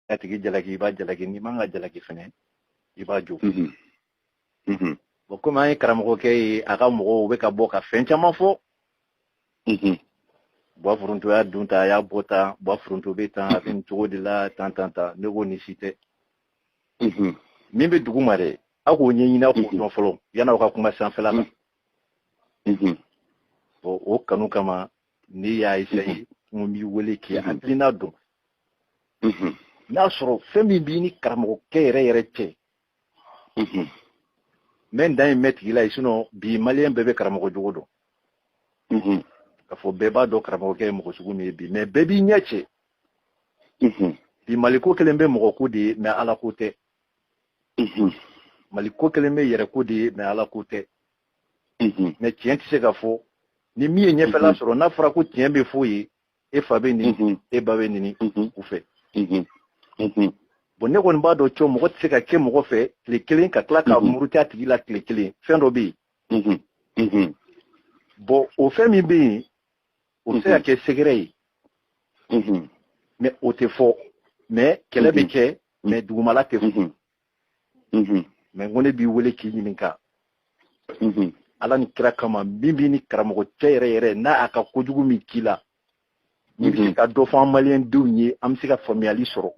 a tigi jalaki i b'a jalaki n'i man ka jalaki fɛnɛ i b'a jo mhm. mhm. bɔn komi an ye karamɔgɔkɛ ye a ka mɔgɔw bɛ ka bɔ ka fɛn caman fɔ mhm. bwa foronto y'a don tan a y'a bɔ tan bwa foronto bɛ tan a bɛ nin cogo de la tan tan tan ne ko nin si tɛ min bɛ dugu ma dɛ aw k'o ɲɛɲini aw k'o dɔn fɔlɔ yan'aw ka kuma sanfɛla la bɔn o kanu kama ne y'a esaye n ko n b'i wele k'i hakilina dɔn n'a sɔrɔ fɛn min b'i ni karamɔgɔkɛ yɛrɛ yɛrɛ cɛ mɛ n dan ye mɛn tigi la ye sinɔn bi maliyɛn bɛɛ bɛ karamɔgɔ jogo dɔn k'a fɔ bɛɛ b'a dɔn karamɔgɔkɛ ye mɔgɔ sugu min ye bi mɛ bɛɛ b'i ɲɛ cɛ bi maliko kelen bɛ mɔgɔ ko de ye mɛ ala ko tɛ maliko kelen bɛ yɛrɛ ko de ye mɛ ala ko tɛ mɛ tiɲɛ tɛ se ka fɔ ni min ye ɲɛfɛla sɔrɔ n'a fɔra ko tiɲɛ bɛ fɔ ye e fa bɛ nɛni mhm. e ba bɛ nɛni mhm. u fɛ mhm. bon ne kɔni b'a dɔn cɔ mɔgɔ tɛ se ka kɛ mɔgɔ fɛ tile kelen ka tila ka muruti a tigi la tile kelen fɛn dɔ bɛ yen bon o fɛn min bɛ yen o bɛ se ka kɛ secret ye mɛ o tɛ fɔ mɛ kɛlɛ bɛ kɛ mɛ dugumala tɛ fɔ mhm. mɛ n ko ne b'i wele k'i ɲininka mhm. ala ni kira kama min b'i ni karamɔgɔ cɛ yɛrɛ yɛrɛ n'a a ka kojugu min k'i la n'i bɛ se ka dɔ fɔ an maliyɛn denw ye an bɛ se ka faamuyali sɔrɔ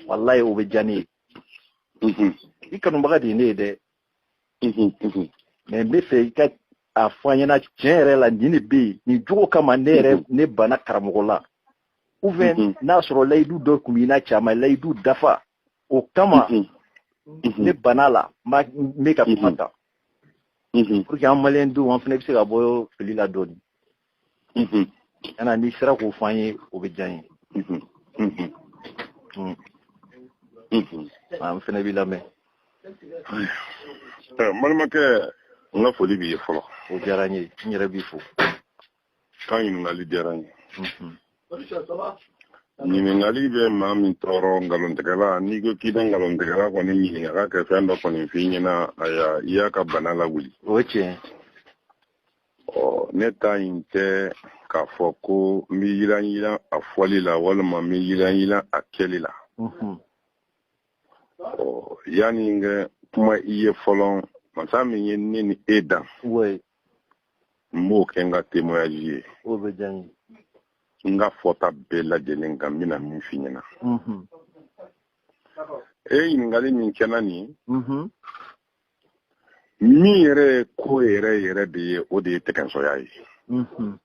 walayi o bɛ diya ne ye i kanubaga de ye ne ye dɛ mɛ n bɛ fɛ i ka a fɔ an ɲɛna tiɲɛ yɛrɛ la nin de bɛ yen nin jogo kama ne yɛrɛ ne banna karamɔgɔ la ou bien n'a sɔrɔ layidu dɔ tun b'i n'a cɛ a ma layidu dafa o kama ne bann'a la n bɛ ka kuma tan pour que an maliyɛn denw an fana bɛ se ka bɔ fili la dɔɔnin kana n'i sera k'o fɔ an ye o bɛ diya n ye an fana b'i lamɛn n balimakɛ n ka foli b'i ye fɔlɔ o diyara n ye n yɛrɛ b'i fo i ka ɲininkali diyara n ye ɲininkali bɛ maa min tɔɔrɔ nkalontigɛla n'i ko k'i bɛ nkalontigɛla kɔni ɲininka k'a kɛ fɛn dɔ kɔni f'i ɲɛna aya i y'a ka bana lawuli o ye tiɲɛ ɔ ne ta in tɛ k'a fɔ ko n bɛ yiranyiran a fɔli la walima n bɛ yiranyiran a kɛli la mhm. ɔ yanni n ka kuma i ye fɔlɔ masa min ye ne ni e dan n b'o kɛ n ka témoignage ye n ka fɔta bɛɛ lajɛlen kan n bɛna min f'i ɲɛna e ɲininkali min kɛ n na nin min yɛrɛ ye ko yɛrɛ yɛrɛ de ye o de ye tɛgɛnsɔya ye mhm.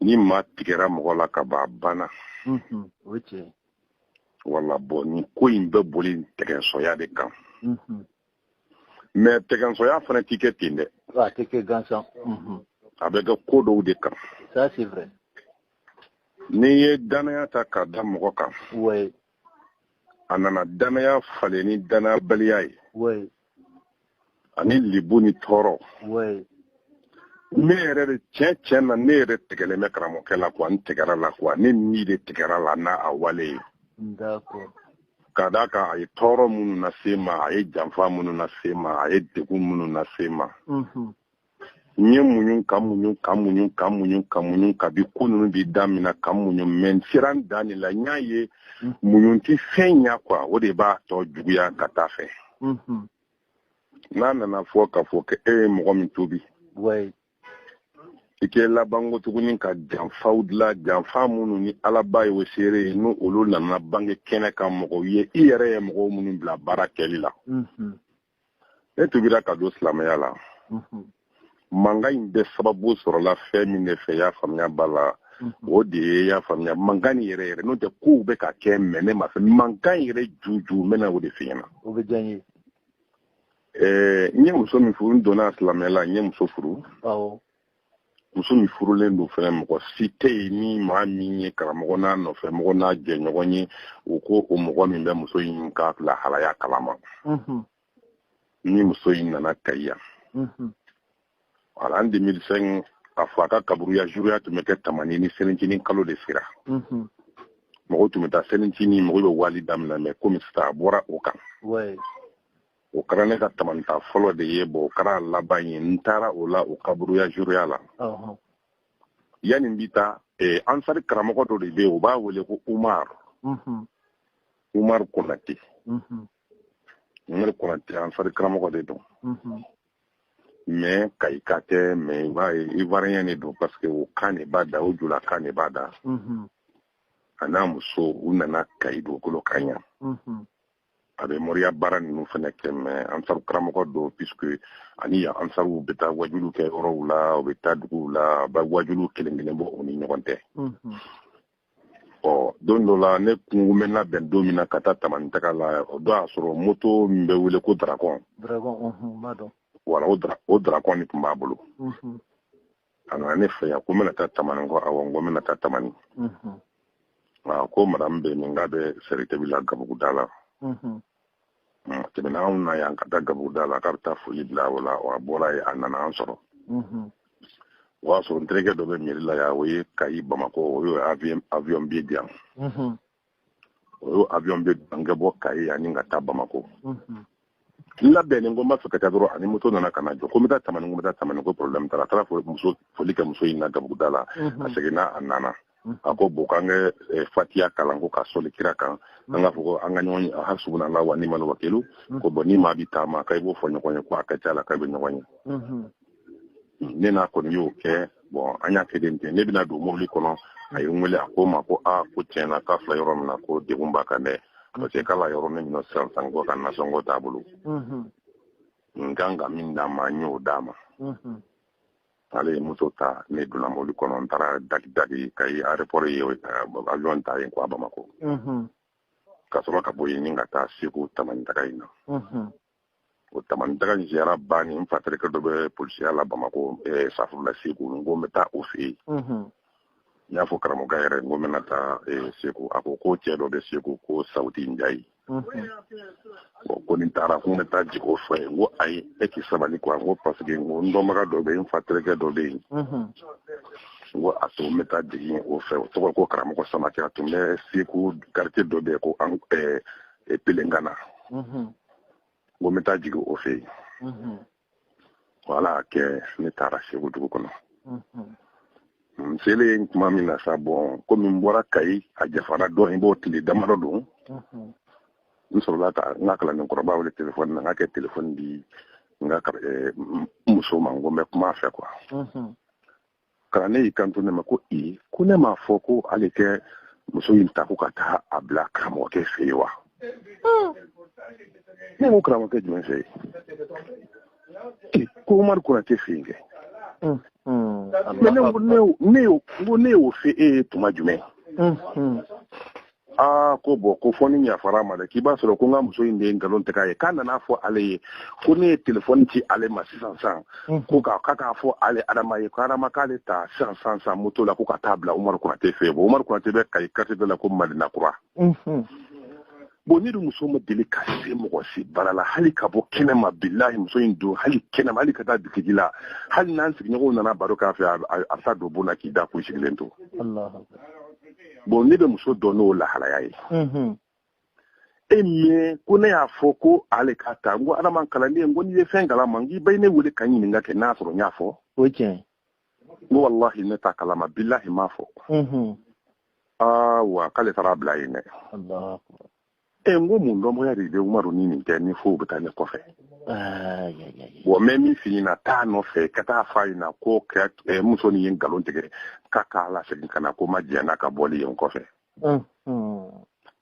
ni maa tigɛra mɔgɔ la ka ban a banna mhm. voilà bon nin ko in bɛ boli tɛgɛnsɔya de kan mhm. mais tɛgɛnsɔya fana tɛ kɛ ten dɛ a tɛ kɛ gansan a bɛ kɛ ko dɔw de kan n'i ye dannaya ta k'a da mɔgɔ kan a nana dannaya falen ni dannayabaliya ye ani libu ni tɔɔrɔ ne yɛrɛ de tiɲɛ tiɲɛ na ne yɛrɛ tigɛlen bɛ karamɔgɔkɛ la quoi n tigɛra a la quoi ne ni de tigɛra a la n'a a wale ye ka d'a kan a ye tɔɔrɔ minnu lase n ma a ye janfa minnu lase n ma a ye degun minnu lase n ma n ye muɲun ka muɲun ka muɲun ka muɲun ka muɲun kabi ko ninnu bi damina ka muɲun mais n sera n dan de la n y'a ye mm. muɲun tɛ fɛn ɲa quoi o de b'a tɔ juguya ka taa a fɛ mm-hmm. n'a nana fɔ k'a fɔ ko e ye mɔgɔ min tuubi i kɛ laban ko tuguni ka janfaw dila janfa minnu ni alaba ye o seere ye n'olu nana bange kɛnɛ kan mɔgɔw ye i yɛrɛ ye mɔgɔw minnu bila baara kɛli la mm-hmm. ne tuubira ka don silamɛya la mhm. mankan in bɛɛ sababu sɔrɔla fɛn min de fɛ y'a faamuya ba la mhm. o de ye y'a faamuya mankan nin yɛrɛ yɛrɛ n'o tɛ kow bɛ ka kɛ mais ne m'a fɛ mankan yɛrɛ juju n bɛna o de f'i ɲɛna o bɛ diya n ye ɛɛ n ye muso min furu n donna silamɛya la n ye muso furu awɔ muso min furulen don fɛnɛ mɔgɔ si tɛ yen ni maa min ye karamɔgɔ n'a nɔfɛ mɔgɔ n'a jɛɲɔgɔn ye u ko o mɔgɔ min bɛ muso in ka lahalaya kalama mhm. ni muso in nana kayi yan mhm. voilà en 2005 a fa ka kaburuya zuruya tun bɛ kɛ tamani ni selincinin kalo de sera mhm. mɔgɔw tun bɛ taa selincinin mɔgɔw bɛ wali daminɛ mais komi sisan a bɔra o kan o kɛra ne ka tamani taa fɔlɔ de ye bon o kɛra a laban ye n taara o la o kaburuya zuruya la yanni n bɛ taa eh, ansari karamɔgɔ dɔ de bɛ yen u b'a wele ko umar mhm. umar konate mhm. umar konate ansari karamɔgɔ de don mhm. mais kayika tɛ mais ivoirien de don parce que o kan de b'a da o jula kan de b'a da a n'a muso u nana kayi dugukolo kan yan a bɛ moriya baara ninnu fana kɛ mais ansaru karamɔgɔ don puisque a ni yan ansaruw bɛ taa wajulu kɛ yɔrɔw la u bɛ taa duguw la a bɛ wajulu kelen kelen bɔ u ni ɲɔgɔn tɛ ɔ don dɔ la ne kun bɛ n labɛn don min na ka taa tamani taga la o don y'a sɔrɔ moto min bɛ wele ko dragon voilà o dragon de tun b'a bolo a nana ne fɛ yan ko n bɛna taa tamani ko awɔ n ko n bɛna taa tamani a ko madamu bɛ min k'a bɛ sɛrɛtɛbi la gabuguda la tɛmɛna anw na yan ka taa gabuguda la k'a bɛ taa foli bila o la wa a bɔra yen a nana an sɔrɔ o y'a sɔrɔ n terikɛ dɔ bɛ mɛri la yan o ye kayi bamakɔ o y'o avion billet di yan o y'o avion billet n ka bɔ kayi yan ka taa bamako n labɛnnen ko n b'a fɛ ka taa dɔrɔn a ni moto nana ka na jɔ ko n bɛ taa tamani ko n bɛ taa tamani ko problème t'a la a taara muso foli kɛ muso in na gabuguda la a seginna a nana a ko bon k'an kɛ eh, fatiya kalan ko ka sɔli kira kan an k'a fɔ ko an ka ɲɔgɔn ye hasubuna lahu wa nimali wakilu ko bɔn ni maa bi taama k'i b'o fɔ ɲɔgɔn ye ko a ka ca la k'a bɛ ɲɔgɔn ye ne n'a kɔni y'o kɛ bɔn an y'a kɛlen ten ne bɛna don mobili kɔnɔ a ye n wele a ko n ma ko a ko tiɲɛ na k'a filɛ yɔrɔ min na ko degun b'a kan dɛ parce que k'ale yɔrɔnin min na sisan san ko a ka nasɔngɔ t'a bolo n kan ka min d'a ma n y'o d'a ma ale ye moto ta ne donna mobili kɔnɔ n taara dagidagi kayi aéroport ye avion ta yen ka taa bamakɔ ka sɔrɔ ka bɔ yen ni ka taa segu tamani taga in na o tamani taga ziyara bannen n fa terikɛ dɔ bɛ polisiya la bamakɔ eh, safurula segu n ko n bɛ taa o fɛ yen n y'a fɔ karamɔgɔkɛ yɛrɛ n ko n bɛna taa eh, segu a ko ko cɛ dɔ bɛ segu ko sawuti njayi bɔn ko ni n taara ko n bɛ taa jigin o fɛ n ko ayi e k'i sabali kuwa n ko paseke n ko n dɔnbaga dɔ bɛ yen n fa terikɛ dɔ bɛ yen n ko a to n bɛ taa jigin o fɛ o tɔgɔ ko karamɔgɔ samakɛ a tun bɛ segu kartiye dɔ bɛ yen ko an eh, e pelengana mhm. n ko n bɛ taa jigin o fɛ yen mhm. ko ala y'a kɛ ne taara segu dugu kɔnɔ mhm. n selen tuma min na sa bɔn komi n bɔra kayi a janfara dɔɔnin b'o tile damadɔ don n sɔrɔla ka n ka kalanden kɔrɔba wele telefɔni na n k'a ka telefɔni di n ka eh, muso ma n ko n bɛ kuma a fɛ kuwa kalanden y'i kanto ne ma ko i ko ne m'a fɔ ko ale ka muso in ta ko ka taa a bila karamɔgɔkɛ fɛ yen wa ne ko karamɔgɔkɛ jumɛn fɛ yen ko umaru konate fɛ yen kɛ ne y'o fɔ e ye tuma jumɛn aa ko bɔn ko fo n'i yafara ma dɛ k'i b'a sɔrɔ ko n ka muso in de ye nkalon tigɛ a ye k'a nana fɔ ale ye ko ne ye telefɔni ci ale ma sisan san mm. ko k'a ka k'a fɔ ale adama ye ko adama k'ale ta sisan san san moto la ko ka taa bila umaru konate fɛ bɔn umaru konate bɛ kayi kartiye dɔ la ko madina kura mm-hmm. bon ne dun muso ma deli ka se mɔgɔ si bara la hali ka bɔ kɛnɛ ma bilahi muso in don hali kɛnɛ ma hali ka taa bitigi la hali n'an sigiɲɔgɔnw nana baro k'a fɛ a bɛ taa don bon na k'i da k'u sigilen to bon ne bɛ muso dɔn n'o lahalaya ye mhm. ɛ mɛ ko ne y'a fɔ ko ale ka taa n ko adama kalanden ko n'i ye fɛn kalama n k'i bɛ ne wele ka ɲininka kɛ n'a sɔrɔ n y'a fɔ o tiɲɛ n ko walahi ne t'a kalama bilahi m'a fɔ mhm. aa wa k'ale taara bila yen dɛ ɛ n ko mun dɔnbagaya de bɛ umaru ni nin cɛ ni fo u bɛ taa ne kɔfɛ bɔn n bɛ min f'i ɲɛna taa nɔfɛ ka taa f'a ɲɛna ko eh, muso nin ye nkalon tigɛ ka k'a lasegin ka na ko n ma jɛn n'a ka bɔli ye n kɔfɛ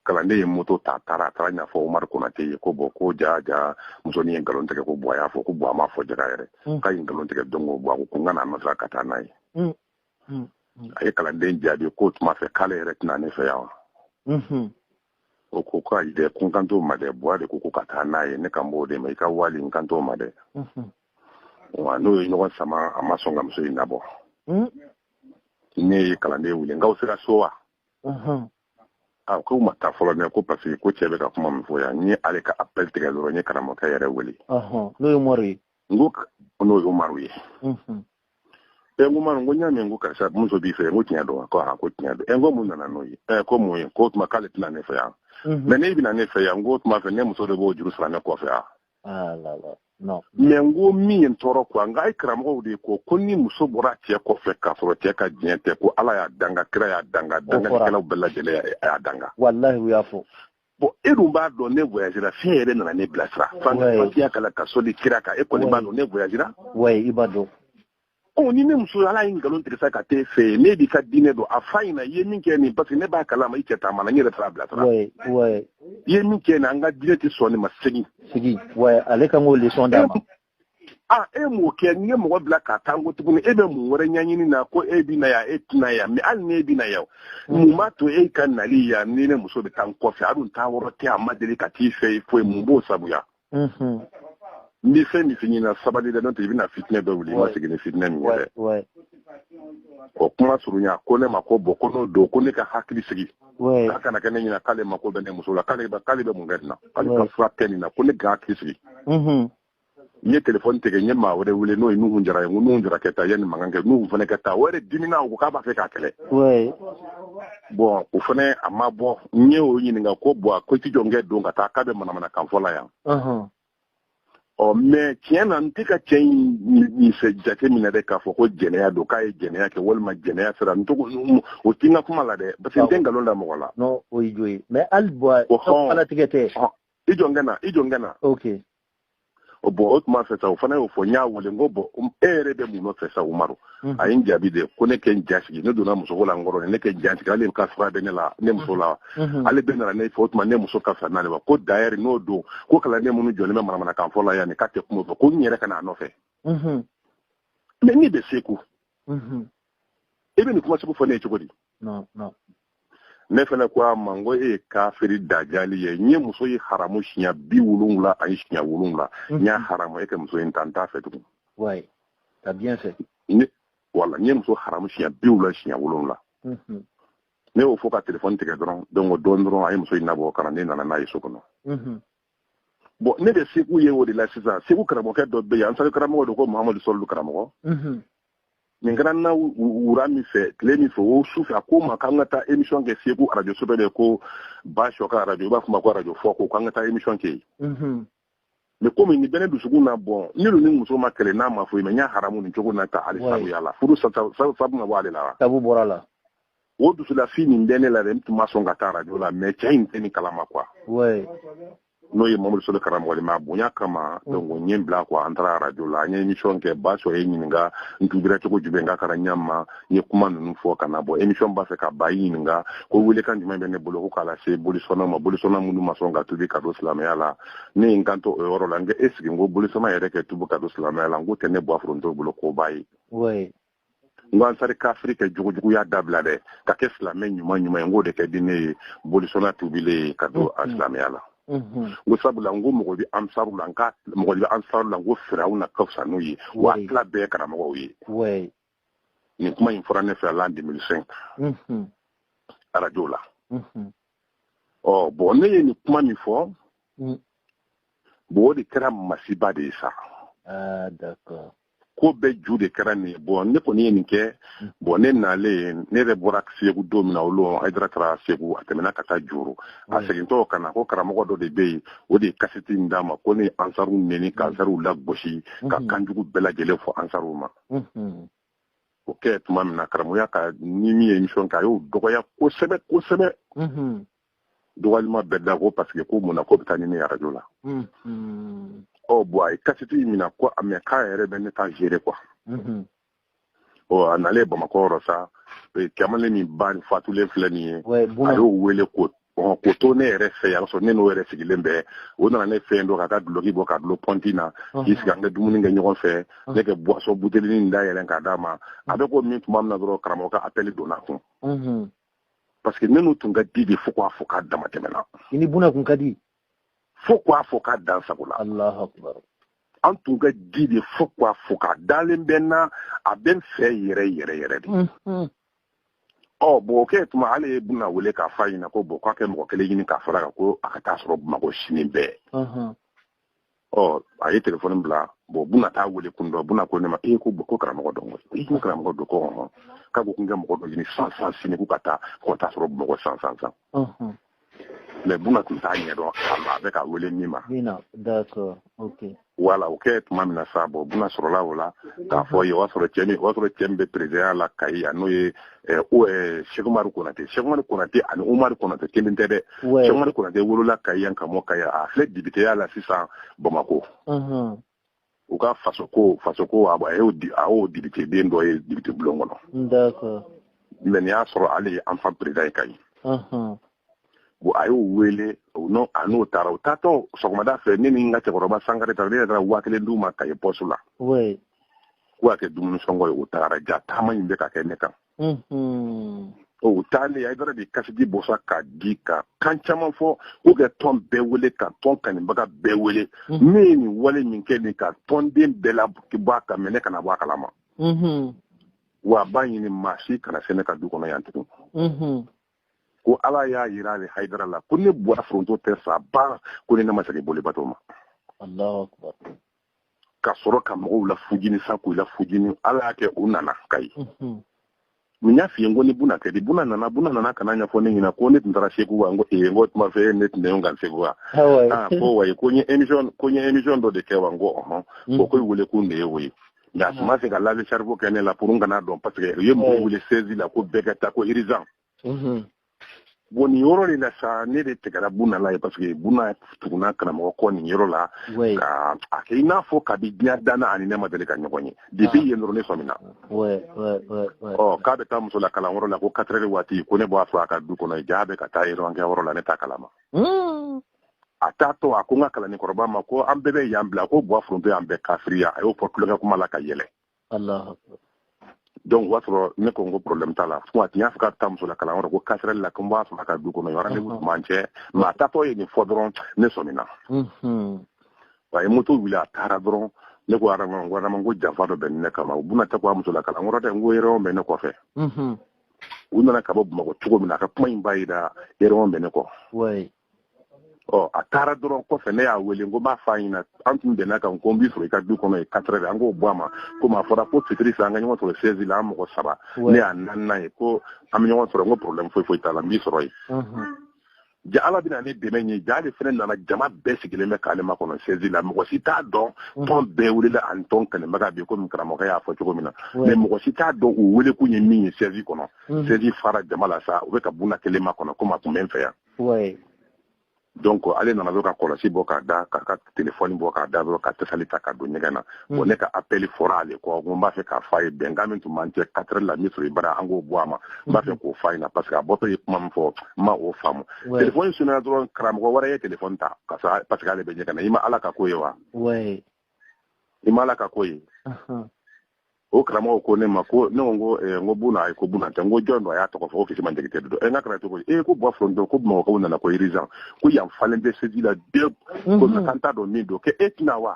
kalanden ye moto ta taara a taara ɲɛfɔ umaru konate ye ko bɔn ko jaa jaa muso nin ye nkalon tigɛ ko bɔn a y'a fɔ ko bɔn a m'a fɔ jaga yɛrɛ k'a ye nkalon tigɛ donc ko bɔn a ko ko n ka n'a nɔfɛ ka taa n'a ye hmm. Hmm. a ye kalanden jaabi k'o tuma fɛ k'ale yɛrɛ tɛ na ne fɛ yan wa hmm. o ko ko ayi dɛ ko n kan t'o ma dɛ buwa de ko ko ka taa n'a ye ne kan b'o de ma i ka wali n kan t'o ma dɛ wa n'u ye ɲɔgɔn sama a ma sɔn ka muso in nabɔ ne ye kalanden wele n k'aw sera so wa a ah, k'u ma taa fɔlɔ dɛ ko parce que ko cɛ bɛ ka kuma min fɔ yan n ye ale ka appel tigɛ dɔrɔn n ye karamɔgɔkɛ yɛrɛ wele n'o ye umaru ye n ko n'o ye umaru ye ɛ n ko umaru n ko n y'a mɛn ko karisa muso b'i fɛ n ko tiɲɛ don wa ko tiɲɛ don ɛ n ko mun nana n'o ye ɛ ko mun ye k'o tuma k'ale tɛ na ne fɛ yan mɛ n'e bɛ na ne fɛ yan n k'o tuma fɛ ne muso de b'o juru sara ne kɔfɛ yan ah, mɛ n ko min ye n tɔɔrɔ kuwa nka a ye karamɔgɔw de ye ko ko ni muso bɔra cɛ kɔfɛ k'a sɔrɔ cɛ ka diɲɛ tɛ ko ala y'a danga kira y'a danga dangalikɛlaw bɛɛ lajɛlen y'a danga walahi u y'a fɔ bɔn e dun b'a dɔn ne voyagera f'e yɛrɛ nana ne bilasira fatiya kalan ka sɔli kira kan e kɔni b'a dɔn ne voyagera i b'a dɔn ɔ ni ne muso hali a ye nkalon tigɛ sa ka t'e fɛ yen ne b'i ka diinɛ dɔn a f'a ɲɛna i ye min kɛ nin parce que ne b'a kalama i cɛ taamana n yɛrɛ taara bilasira i ye min kɛ nin an ka diinɛ tɛ sɔn nin ma segin ale kan k'o leçon d'a ma aa e m'o kɛ n ye mɔgɔ bila ka taa n ko tuguni e bɛ mun wɛrɛ ɲɛɲini na ko e bɛ na yan e tɛ na yan mɛ hali n'e bɛ na yan mm. mun b'a to e ka nali yan ni ne muso bɛ taa n kɔfɛ a dun taa yɔrɔ tɛ a ma deli ka t'i fɛ yen foyi mun b'o sabuya mm-hmm. n bɛ fɛn min f'i ɲɛna sabali dɛ n'o tɛ i bɛna fitinɛ dɔ wuli i ma segin ni fitinɛ min ye dɛ o kuma surunya ko ne ma ko bɔn ko n'o don ko ne ka hakili sigi k'a kana kɛ ne ɲɛna k'ale mako bɛ ne muso la k'ale k'ale bɛ mun kɛ nin na k'ale ka fura kɛ nin na ko ne ka hakili sigi n ye telefɔni tigɛ n ye maa wɛrɛ wele n'o ye nuhu jara ye n ko nuhu jara kɛ taa yen ni mankan kɛ nuhu fana kɛ taa o yɛrɛ dimina o ko k'a b'a fɛ k'a kɛlɛ bɔn o fana a ma bɔ n ye o ɲininka ko bɔn ko i t'i jɔ n kɛ don ka taa k'a bɛ manamanakan fɔ la yan ɔ mɛ tiɲɛ na n tɛ ka cɛ in nin fɛ jate minɛ dɛ k'a fɔ ko jɛnɛya don k'a ye jɛnɛya kɛ walima jɛnɛya sira non o tɛ n ka kuma la dɛ parce que n tɛ nkalon da mɔgɔ la. non o ye jo ye mɛ hali bɔn alatigɛ tɛ. i jɔ n kɛ na i jɔ n kɛ na. ok. bɔn o tuma fɛ sa o fana y'o fɔ n y'a wele n ko bɔn e yɛrɛ bɛ mun nɔfɛ sa umaru. Mhm. a ye n jaabi de ko ne kɛ n ja sigi ne donna muso ko la n kɔrɔ ne kɛ n ja sigi ale ka sira bɛ ne la ne muso la mhm. ale bɛ nana ne fɛ o tuma ne muso ka fisa n'ale ma ko d'ailleurs n'o don ko kalanden minnu jɔlen bɛ manamanakan fɔ la yan nin k'a tɛ kuma fɛ ko n yɛrɛ ka n'a nɔfɛ mhm. mais ne bɛ segu i bɛ nin kuma sugu fɔ ne ye cogo di ne fana ko a ma n ko e ye kafiri dajali ye n ye muso ye haramu siɲɛ bi wolonwula ani siɲɛ wolonwula n y'a haramu e ka muso in ta n t'a fɛ tugun wala n ye muso haramu siɲɛ bi wolonwula siɲɛ wolonwula ne y'o fɔ ka telefɔni tigɛ dɔrɔn donc o don dɔrɔn a ye muso in nabɔ ka na ne nana n'a ye so kɔnɔ bon ne bɛ segu yen o de la sisan segu karamɔgɔkɛ dɔ bɛ yen ansari karamɔgɔ don ko mahamadu sɔlu karamɔgɔ nin kɛra na wura min fɛ tile min fɛ o su fɛ a ko n ma k'an ka taa émission kɛ segu arajo so dɔ de ko ba sɔ ka arajo i b'a fɔ ma ko arajo foko k'an ka taa émission kɛ yen mm-hmm. mais komi nin bɛ ne dusukun na bon ne dun ni muso ma kɛlɛ n'a ma foyi mais n y'a haramu nin cogo na ta hali sabuya la furu sabu ma bɔ ale la wa sabu bɔra la o dusulafi nin bɛ ne la dɛ n tun ma sɔn ka taa arajo la mais cɛ in tɛ nin kalama quoi n'o ye mamadu soli karamɔgɔ ma bonya kama mm. donc n ye n bila quoi an taara radio la an ye émission kɛ ba sɔ ye n ɲininka n tubira cogo jumɛn k'a kɛra ɲa ma n ye kuma ninnu fɔ ka na bɔ émission b'a fɛ ka ban a ye n ɲininka ko welekan jumɛn bɛ ne bolo ko k'a lase bolisɔnnaw ma bolisɔnna minnu ma sɔn ka tubi ka don silamɛya la ne ye n kanto o yɔrɔ la n ko est-ce que n ko bolisɔnna yɛrɛ kɛ tubi ka don silamɛya la n k'o tɛ ne bɔ foronto bolo koba ye ansari kafiri kɛ jogojuguya dabila dɛ ka kɛ silamɛ ɲuman ɲuman ye n k'o de ka di ne ye bolisɔnna tubilen ye ka don a silamɛya la n ko sabula n ko mɔgɔ bɛ ansaru la n ko mɔgɔ bɛ ansaru la n ko firawuna ka fisa n'u ye wa tila bɛɛ karamɔgɔw ye nin kuma in fɔra ne fɛ l'an 2005 arajo la ɔ bon ne ye nin kuma min fɔ bon o de kɛra masiba de ye sa ko bɛɛ ju de kɛra nin ye bon ne kɔni ye nin kɛ mm. bon ne nalen ne yɛrɛ bɔra segu don min na o don hayidara taara segu a tɛmɛna ka taa joro a mm. segintɔ ka na ko karamɔgɔ dɔ de bɛ yen o de ye kasɛti in d'a ma ko ne ye ansaru neni ka mm. ansaru lagosi ka mm-hmm. kanjugu bɛɛ lajɛlen fɔ ansaru ma mm-hmm. o kɛ tuma min na karamɔgɔya ka ni min ye émission kɛ a y'o dɔgɔya kosɛbɛ kosɛbɛ mm-hmm. dɔgɔlima bɛɛ da ko parce que ko mun na k'o bɛ taa ni ne ye arajo la ɔ bon a ye kasɛti in minɛ ko mais k'a yɛrɛ bɛ ne ta gérer quoi ɔ a nalen bamakɔ yɔrɔ sa kamalen min ba ni fatulen filɛ nin ye a y'o wele ko ko to ne yɛrɛ fɛ yan sɔrɔ ne n'o yɛrɛ sigilen bɛ o nana ne fɛ yen dɔrɔn k'a ka duloki bɔ k'a dulon pɔnti na k'i sigi an bɛ dumuni kɛ ɲɔgɔn fɛ ne kɛ buwasɔn butelinin da yɛlɛn k'a d'a ma a bɛ k'o min tuma min na dɔrɔn karamɔgɔ ka appel donna kun parce que ne n'u tun ka di de fo k'a fɔ k'a dama tɛmɛna i ni buna kun ka di fo k'a fɔ k'a dan sago la alahu akbar an tun ka di de fo k'a fɔ k'a dalen bɛ n na a bɛ n fɛ yɛrɛ yɛrɛ yɛrɛ de mm-hmm. ɔ bon o kɛ tuma ale ye buna wele k'a f'a ɲɛna ko bon k'a ka mɔgɔ kelen ɲini k'a fara a kan ko a ka t'a sɔrɔ bamakɔ sini bɛɛ mm-hmm. ɔ a ye telefɔni bila bon buna t'a wele kun dɔn buna ko ne ma ee ko ko karamɔgɔ dɔn i ko karamɔgɔ dɔn ko bon k'a ko ko n ka mɔgɔ dɔ ɲini san san sini ko ka taa ko t'a sɔrɔ bamakɔ san san san mɛ buna tun t'a ɲɛ dɔn a bɛ k'a wele min ma wala o kɛ tuma min na sa bon buna sɔrɔla o la k'a fɔ ye o y'a sɔrɔ cɛ min o y'a sɔrɔ cɛ min bɛ perezidanya la kayi yan n'o ye sɛkumari konatɛ sɛkumari konatɛ ani umari konatɛ kelen tɛ dɛ sɛkumari konatɛ wolola kayi yan ka mɔ kayi yan a filɛ depiteya la sisan bamakɔ u ka faso ko faso ko a y'o a y'o depite den dɔ ye depite bulon kɔnɔ mɛ nin y'a sɔrɔ ale ye an fan perezidan ye kayi bon a y'o wele a n'o taara u taatɔ sɔgɔmada fɛ ne ni n ka cɛkɔrɔba sankare taara ne yɛrɛ taara waa kelen d'u ma kayi pɔsi la k'o ka kɛ dumuni sɔngɔ ye u taara ja taama in bɛ ka kɛ ne kan o taalen a yɛrɛ ye kasɛti bɔ sa k'a di ka kan caman fɔ k'u ka tɔn bɛɛ wele ka tɔn kanibaga bɛɛ wele ne ye nin wale min kɛ nin ka tɔnden bɛɛ labɔ a kalama ne kana bɔ a kalama wa a b'a ɲini maa si kana se ne ka du kɔnɔ yan tugun ko ala y'a yira ale haidara la ko ne buwa foronto tɛ sa ba ko ni ne ma segin boli bato ma ka sɔrɔ ka mɔgɔw la fujini sa k'u la fujini ala y'a kɛ u nana kayi mhm. n y'a f'i ye ko n ni buna ka di buna nana buna nana ka n'a ɲɛfɔ ne ɲɛna ko ne tun taara segu wa n ko ee n ko tuma fɛ ne tun bɛ kan segu wa aa ko wayi ko n ye emission ko n ye emission dɔ de kɛ wa n ko ɔhɔn ko ko wele kun de ye o ye nka a tun ma se ka lave cerveau kɛ ne la pour n kan'a dɔn paseke u ye mɔgɔw wele siège la ko bɛɛ ka taa ko urgent bon nin yɔrɔ de la sa ne de tigɛra buna la ye paseke buna tuguna karamɔgɔ kɔ nin yɔrɔ la ka a kɛ i n'a fɔ kabi diɲɛ danna a ni ne ma deli ka ɲɔgɔn ye depi yen dɔrɔn ne sɔmina ɔ k'a bɛ taa muso la kalanyɔrɔ la ko quatre heures waati ko ne b'a sɔrɔ a ka du kɔnɔ ja a bɛ ka taa réunion kɛ yɔrɔ la ne t'a kalama a t'a to a ko n ka kalanden kɔrɔba ma ko an bɛɛ bɛ yan bila ko buwa foronto y'an bɛɛ kafiriya a y'o fɔ tulonkɛ kuma la ka yɛlɛ donc o b'a sɔrɔ ne ko n ko problème t'a la fo a tun y'a fɔ k'a bɛ taa muso la kalanyɔrɔ ko quatre heures la ko n b'a sɔrɔ a ka du kɔnɔ rendez-vous tun b'an cɛ mɛ a taatɔ ye nin fɔ dɔrɔn ne sɔmina a ye moto wuli a taara dɔrɔn ne ko adama ko adama ko janfa dɔ bɛ ne kama buna tɛ ko a muso la kalanyɔrɔ dɛ n ko réunion bɛ ne kɔfɛ u nana ka bɔ bamakɔ cogo min na a ka kuma in b'a yira réunion bɛ ne kɔ ɔ a taara dɔrɔn kɔfɛ ne y'a wele ko b'a f'a ɲɛna an tun bɛnna kan ko n b'i sɔrɔ i ka du kɔnɔ ye quatre heures an k'o bɔ a ma komi a fɔra ko fitiri fɛ an ka ɲɔgɔn sɔrɔ siège la an mɔgɔ saba ne y'a naaninan ye ko an bɛ ɲɔgɔn sɔrɔ n ko problème foyi foyi t'a la n b'i sɔrɔ yen ja ala bɛna ne dɛmɛ ye ja ale fana nana jama bɛɛ sigilen bɛ k'ale makɔnɔ siège la mɔgɔ si t'a dɔn mm. tɔn bɛɛ welela ani tɔn kɛlɛbaga bi komi karamɔgɔ y'a fɔ cogo min na mais mɔgɔ si t'a dɔn u wele kun ye min ye siège kɔnɔ siège mm. fara jama la sa u bɛ ka buna kelen makɔnɔ komi a tun bɛ n fɛ yan oui donc ale nana dɔrɔn ka kɔlɔsi bɔ k'a da k'a ka telefɔni bɔ k'a da dɔrɔn ka tasali ta ka don ɲɛgɛn na mm. bon ne ka appel fɔra ale kɔ ko n b'a fɛ k'a fɔ a ye bɛnkan min tun b'an cɛ quatre heures la n b'i sɔrɔ i bara an k'o bɔ a ma n b'a fɛ mm-hmm. k'o fɔ a ɲɛna parce que a bɔtɔ ye kuma min fɔ n ma o faamu telefɔni sonena dɔrɔn karamɔgɔ wɛrɛ ye telefɔni ta parce que ale bɛ ɲɛgɛn na i ma ala ka ko ye wa i ma ala ka ko ye o karamɔgɔ ko ne ma ko ne ko n ko eh, n ko buna ayi ko buna tɛ n ko jɔn don a y'a tɔgɔ fɔ ko kisima jakite don ɛ eh, n k'a kɛra cogo di ee eh, ko buwa foronto ko bamakɔkaw nana ko urgent ko yan falen bɛ siège la dɛ mhm. ko mais k'an t'a dɔn min don k'e tɛna wa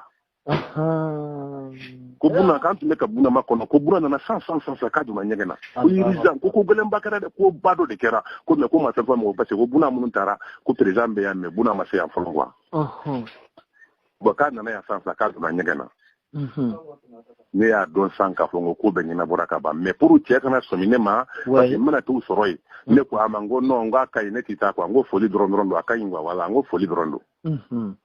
ko buna k'an tun bɛ ka buna makɔnɔ ko buna nana sisan sisan k'a donna ɲɛgɛn na ko urgent ko ko gɛlɛnba kɛra dɛ koba dɔ de kɛra ko mais k'u ma fɛn fɔ mɔgɔ parce que ko buna minnu taara ko président bɛ yan mais buna ma se yan fɔlɔ quoi bon k'a nana yan sisan k'a donna ɲɛgɛn na mhm. ne y'a dɔn sa k'a fɔ ko ko bɛɛ ɲɛnabɔra ka ban mais pour cɛ kana sɔmi ne ma parce que n bɛna t'u sɔrɔ yen mhm. ne ko a ma n ko non n ko a ka ɲi ne tɛ taa quoi n ko foli dɔrɔn dɔrɔn don a ka ɲi quoi voilà n ko foli dɔrɔn don mhm.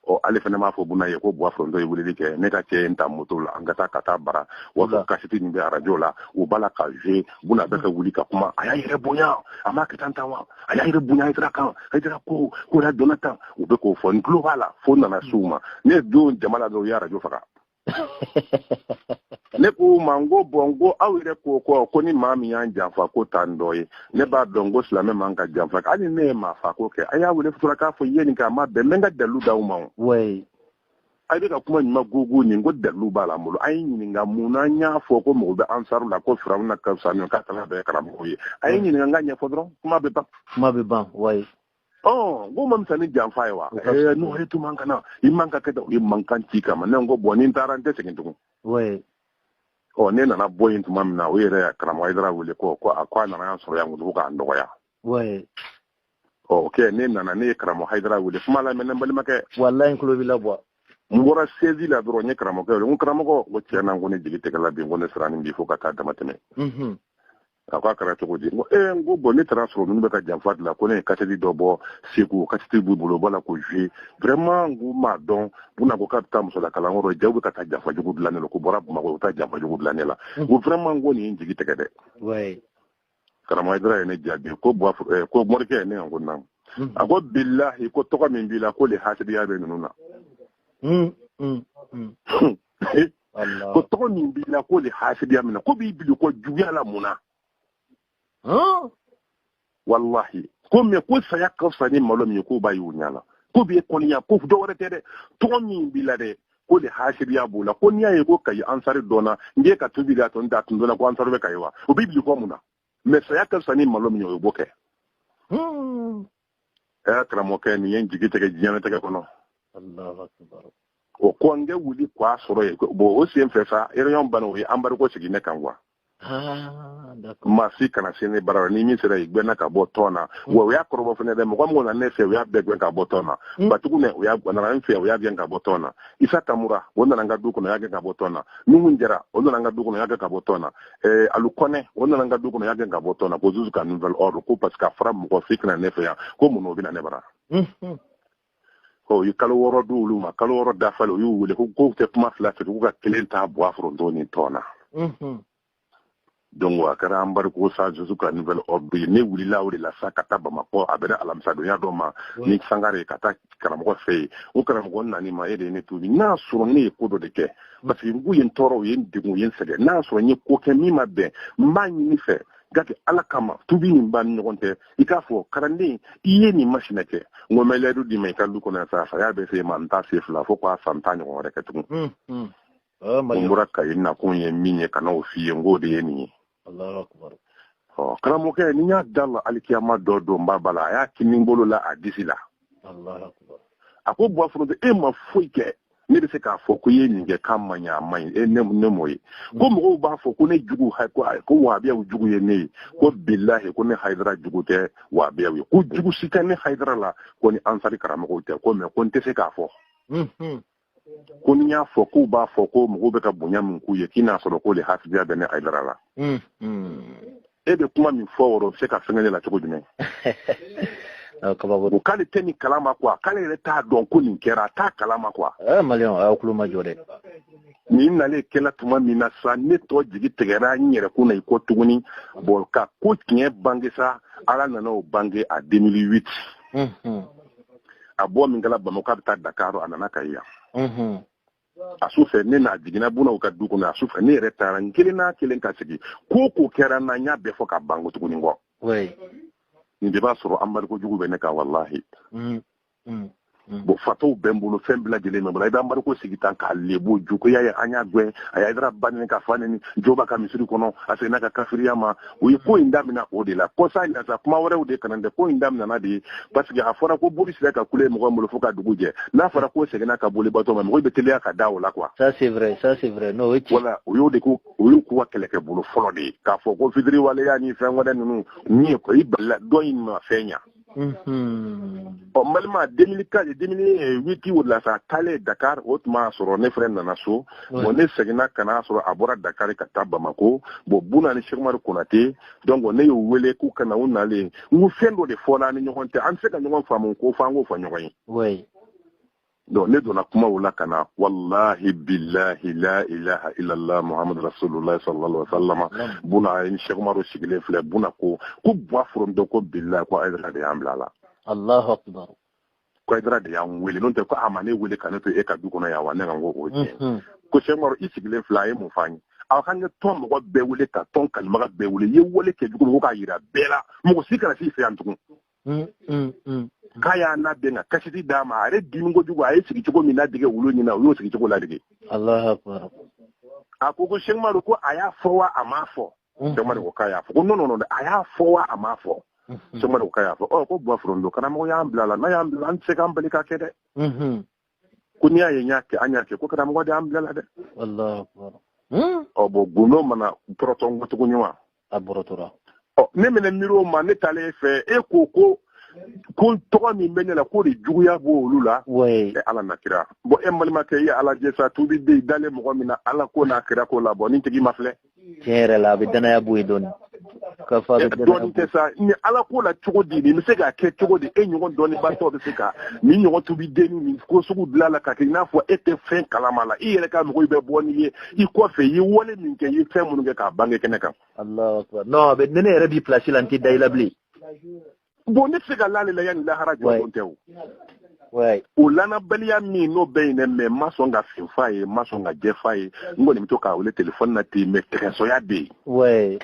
ɔ ale fana m'a fɔ buna ye ko buwa foronto ye weleli kɛ ne ka cɛ in ta moto la an ka taa ka taa bara waso kasɛti min bɛ arajo la u b'a la ka jouer buna bɛ ka wuli ka kuma a y'a yɛrɛ bonya a m'a kɛ tan tan wa a y'a yɛrɛ bonya hayidara kan hayidara ko k'a donna tan u bɛ k'o fɔ n tulo b'a la fo n nana s'u ma ne don jama la dɔrɔn u ye arajo faga ne k'u ma n ko bon n ko aw yɛrɛ ko ko ni maa min y'an janfa k'o t'an dɔ ye ne b'a dɔn ko silamɛ man ka janfa hali ne ye maa fa ko kɛ a y'a wele sutura k'a fɔ i ye nin kɛ a ma bɛn n bɛ n ka dalu d'aw ma o a bɛ ka kuma ɲuman gogo nin ko dalu b'a la n bolo a ye n ɲininka mun na n y'a fɔ ko mɔgɔ bɛ ansaru la ko firawuna ka fisa ka kalan bɛɛ karamɔgɔ ye a ye n ɲininka n k'a ɲɛfɔ dɔrɔn kuma bɛ ban kuma bɛ ban wa ɔ k'o ma fisa ni janfa ye wa n'o ye tun kana i man ka kɛ i mankan ci kama ne ko bon ni n taara n tɛ segin tugun ɔ ne nana bɔ yen tuma min na o yɛrɛ karamɔgɔ hayidara wele ko ko a ko a nana yan sɔrɔ yan ko k'an dɔgɔya oui ɔ ok ne nana ne ye karamɔgɔ hayidara wele kuma la mais ne balimakɛ walayi n tulo b'i la bon n bɔra siège la dɔrɔn n ye karamɔgɔkɛ wele n ko karamɔgɔ n ko tiɲɛ na n ko ne jigi tɛgɛla bi n ko ne siranna bi fo ka taa dama tɛmɛ mhm. a ko a kɛra cogo di n ko ee n ko bon ne taara a sɔrɔ ninnu bɛ ka janfa dilan ko ne ye kasɛti dɔ bɔ segu kasɛti b'u bolo u b'a la k'o jouer vraiment n ko n m'a dɔn buna ko k'a bɛ taa musolakalan yɔrɔ jaa u bɛ ka taa janfa jugu dilan ne la k'u bɔra bamakɔ u bɛ taa janfa jugu dilan ne la n ko vraiment n ko nin ye n jigi tɛgɛ dɛ karamɔgɔ hayidara ye ne jaabi ko eh, ko morikɛ ye ne n ko naamu hmm. a ko bilahi ko tɔgɔ min b'i la k'o le hasidiya bɛ ninnu na hmm, hmm, ko tɔgɔ min b'i la k'o le hasidiya minɛ k'u bɛ bil'i kɔ juguya la mun na walahi ko mɛ ko saya ka fisa ni malo min ye k'o b'a y'u ɲɛ la k'u b'i kɔniya ko dɔ wɛrɛ tɛ dɛ tɔgɔ min b'i la dɛ k'o de hasidiya b'u la ko n'i y'a ye ko kayi ansari dɔnna n kɛ ka tubi de y'a to n t'a tun dɔnna ko ansari bɛ kayi wa u bɛ bil'i kɔ mun na mɛ saya ka fisa ni malo min ye o ye b'o kɛ hmm. ɛ karamɔgɔkɛ nin ye n jigi tigɛ diɲɛnatigɛ kɔnɔ alahu akbar o ko n kɛ wuli k'a sɔrɔ ye bon o sen fɛ sa réunion bana u ye embargo sigi ne kan kuwa Ah, maa si kana se ne bara ni min sera i gɛnna ka bɔ tɔn na mm. wa u y'a kɔrɔbɔ fana dɛ mɔgɔ min na ne fɛ u y'a bɛɛ gɛn ka bɔ tɔn na mm. batugu ne u y'a nana n fɛ u y'a gɛn ka bɔ tɔn na isa tamura o nana n ka du kɔnɔ y'a gɛn ka bɔ tɔn na nuhun jara o nana n ka du kɔnɔ y'a gɛn ka bɔ tɔn na eh, alu kɔnɛ o nana n ka du kɔnɔ y'a gɛn ka bɔ tɔn na ko jusqu'à nouvel ordre ko parce que a fɔra mɔgɔ si kana ne fɛ yan ko mun na o bɛ na ne bara mm-hmm. u ye kalo wɔɔrɔ di olu ma kalo wɔɔrɔ dafalen u y'u wele ko k'u tɛ kuma fila fɛ k'u ka kelen ta bɔ a foronto ni tɔn na mhm. donc a kɛra embargo sa jusqu'à nouvel ordre ye ne wulila o de la sa ka taa bamakɔ a bɛnna alamisadonya dɔ ma ni sangare ka taa karamɔgɔ fɛ yen o karamɔgɔ n nan'i ma e de ye ne tuubi n'a sɔrɔ ne ye ko dɔ de kɛ mm. parce que u ye n tɔɔrɔ u ye n degun u ye n sɛgɛn n'a sɔrɔ n ye ko kɛ min ma bɛn n b'a ɲini i fɛ k'a to ala kama tubi nin b'an ni ɲɔgɔn tɛ i k'a fɔ kalanden i ye nin machin kɛ n ko mɛlɛdu d'i ma i ka du kɔnɔ sa saya bɛ se n ma n t'a se fila fo k'a san tan ɲɔgɔn wɛrɛ kɛ tugun hmm, hmm. ah, n bɔra kayi n nakun ye min ye ka n'o f'i ye n k'o de ye nin ye karamɔgɔkɛ nin y'a da la alikiyama dɔ don ba bala a y'a kini bolo la a disi la a ko bɔ foronto e ma foyi kɛ ne bɛ se k'a fɔ ko i ye nin kɛ k'a man ɲi a man ɲi e ne ne m'o ye ko mɔgɔw b'a fɔ ko ne jugu ko ko wabiyaw jugu ye ne ye ko bilahi ko ne hayidara jugu tɛ wabiyaw ye ko jugu si tɛ ne hayidara la ko ni ansari karamɔgɔw tɛ ko mɛ ko n tɛ se k'a fɔ ko ni y'a fɔ k'u b'a fɔ ko mɔgɔw bɛ ka bonya min k'u ye k'i n'a sɔrɔ k'o le hasidiya bɛ ne hayidara la e bɛ kuma min fɔ wɔrɔ se ka fɛngɛ la cogo jumɛn ko k'ale tɛ nin kala ma kuwa k'ale yɛrɛ t'a dɔn ko nin kɛra a t'a kala ma kuwa eh, maliens aw tulo majɔ dɛ nin nalen kɛla tuma min na sa ne tɔ jigi tigɛra n yɛrɛ kun na n ko tuguni bon ala ka ko tiɲɛ bange sa ala nana o bange a 2008 a bɔ min kɛla bamakɔ a bɛ taa dakaro a nana kayi yan a su fɛ nin na a jiginna bunaw ka du kɔnɔ a su fɛ ne yɛrɛ taara n kelen n'a kelen ka sigi ko ko kɛra n na n y'a bɛɛ fɔ ka ban n ko tuguni n ko nin de b'a sɔrɔ embargo jugu bɛ ne kan walahi mm, mm, mm. bon fataw bɛ n bolo fɛn bɛɛ lajɛlen bɛ n bolo u bɛ embargo sigi tan k'a lebu juguya ye an y'a gɛn a ye hayidara ba neni k'a fa neni joba ka misiri kɔnɔ a seginna ka kafiriya ma u ye ko in damina o de la kɔsa in na sa kuma wɛrɛw de kana dɛ ko in daminana de ye parce que a fɔra ko boli sira ka kule mɔgɔ bolo fo ka dugu jɛ n'a fɔra ko seginna ka boli bato ma mɔgɔ bɛ teliya ka da o la quoi ça c'est vrai ça c'est vrai non voilà o y'o de ko o y'u k'u ka kɛlɛkɛ bolo fɔlɔ de ye k'a fɔ ko fitiri waleya ni fɛn wɛrɛ ninnu min ye ko i balila dɔ in ma fɛn ɲa n balima deux mille quatre deux mille huit o la sa taalen dakar o tuma y'a sɔrɔ ne fana nana so bon ne seginna ka n'a sɔrɔ a bɔra dakari ka taa bamako bon buna ni sɛk umaru konate donc ne y'u wele k'u ka na u nalen n ko fɛn dɔ de fɔla an ni ɲɔgɔn cɛ an tɛ se ka ɲɔgɔn faamu ko fo an k'o fɔ ɲɔgɔn ye donc ne donna kuma o la ka na walahi bilahi la ilaha illallah muhamadu rasulullah sallallahu alaihi wasallam buna ni sɛk umaru sigilen filɛ buna ko ko bɔ foronto ko bilahi ko ayidara de y'an bila a la alahu akibaru ko ayidara de y'an wele n'o tɛ ko a ma ne wele ka ne to e ka du kɔnɔ yan wa ne ka n ko o tiɲɛ mhm. ko sɛk umaru i sigilen filɛ a ye mun f'an ye aw ka n ka tɔn mɔgɔ bɛɛ wele ka tɔn kalimaga bɛɛ wele i ye wale kɛ jugu ko k'a yira bɛɛ la mɔgɔ si kana s'i fɛ yan tugun Mm, mm, mm, k'a y'a n'a den ka kasɛti d'a ma a yɛrɛ dimi kojugu a ye sigi cogo min ladege olu ɲɛ na u y'o sigi cogo ladege a ko ko sɛk umaru ko a y'a fɔ wa a m'a fɔ sɛk umaru ko k'a y'a fɔ ko non non a y'a fɔ wa a m'a fɔ sɛk umaru ko k'a y'a fɔ ɔ ko buwafuron don karamɔgɔ y'an bila la n'a y'an bila an tɛ se k'an bali ka kɛ dɛ ko n'i y'a ye n y'a kɛ an y'a kɛ ko karamɔgɔ de an bila la dɛ hmm? ɔ bon gundo mana bɔrɔtɔ n ko tuguni wa a bɔrɔtɔra ɔ ne mɛnna miiri o ma ne taalen e fɛ e ko ko ko tɔgɔ min bɛ ne la k'o de juguya b'olu la e ala n'a kira bon e balimakɛ i y'a lajɛ sa tubi den dalen mɔgɔ min na ala ko n'a kira ko la bon ni tigi ma filɛ tiɲɛ yɛrɛ la a bɛ danaya bɔ yen dɔɔnin ka fa bɛ dɔɔnin tɛ sa ni ala ko la cogo di nin bɛ se k'a kɛ cogo di e ɲɔgɔn dɔnnibaatɔ bɛ se ka nin ɲɔgɔn tubi denni nin ko sugu bila la ka kɛ i n'a fɔ e tɛ fɛn kalama la i yɛrɛ ka mɔgɔ i bɛ bɔ n'i ye i kɔfɛ i ye wale min kɛ i ye fɛn minnu kɛ k'a bange kɛnɛ kan. non mais ne yɛrɛ b'i pilasi la n tɛ da i la bilen. bon ne tɛ se ka la ale la yanni lahara jɔdon cɛ o o lanabaliya min n'o bɛ yen dɛ mais n ma sɔn ka fin f'a ye n ma sɔn ka jɛ f'a ye n kɔni bɛ to k'a wele telefɔni na ten mais tɛgɛnsɔya bɛ yen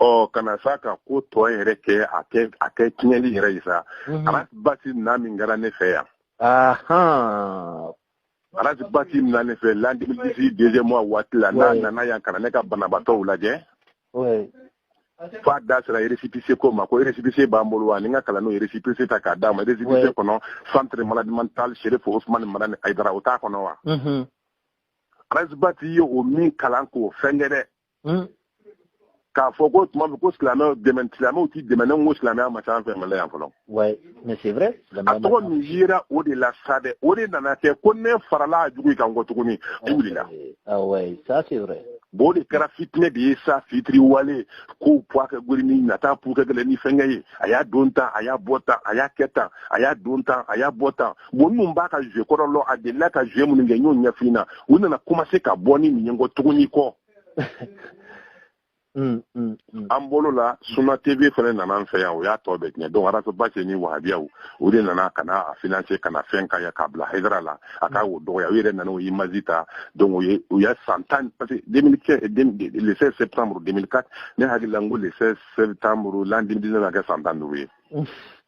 ɔ ka na sa ka ko tɔ yɛrɛ kɛ a kɛ a kɛ tiɲɛli yɛrɛ ye sa mhm. ras bath na min kɛra ne fɛ yan ras bath na ne fɛ l'an deux mille dix-huit deuxième mois waati la n'a nana yan ka na ne ka banabaatɔw lajɛ fo a da sera récépissé ko ma ko récépissé b'an bolo wa ni ka kalan n y'o récépissé ta k'a d'a ma récépissé kɔnɔ centre maladie mentale chérif ousmane madani ayidara o t'a kɔnɔ wa ras bath ye o min kalan k'o fɛnkɛ dɛ k'a fɔ ko tuma min ko silamɛw dɛmɛ silamɛw tɛ dɛmɛ ne ko silamɛya ma ca an fɛ mali yan fɔlɔ Ouais, mais c'est vrai. A tɔgɔ min yera o de la sa dɛ. O de nana kɛ ko ne farala a jugu kan kɔ tuguni. O wulila. Ah ouais, ça c'est vrai. Bon de kɛra fitinɛ de ye sa fitiri wale ko puwa kɛ gori ni nata pu kɛ gɛlɛ ni fɛnkɛ ye a y'a don tan a y'a bɔ tan a y'a kɛ tan a y'a don tan a y'a bɔ tan bon minnu b'a ka jouer kɔrɔ lɔn a delila ka jouer minnu kɛ n y'o ɲɛfin na u nana commencer ka bɔ ni nin ye n kɔ tuguni kɔ Mm, mm, mm. an bolo la Suna TV fana nana an fɛ yan o y'a tɔ bɛɛ tiɲɛ donc Ras Bath ni wahabiyaw o de nana ka na a financer ka na fɛn ka ya k'a bila Haidara la a ka o dɔgɔya u yɛrɛ nana o image ta donc o ye u y'a san tan parce que le 16 septembre 2004 ne hakili la n ko le 16 septembre l'an 2019 a kɛ san tan duuru ye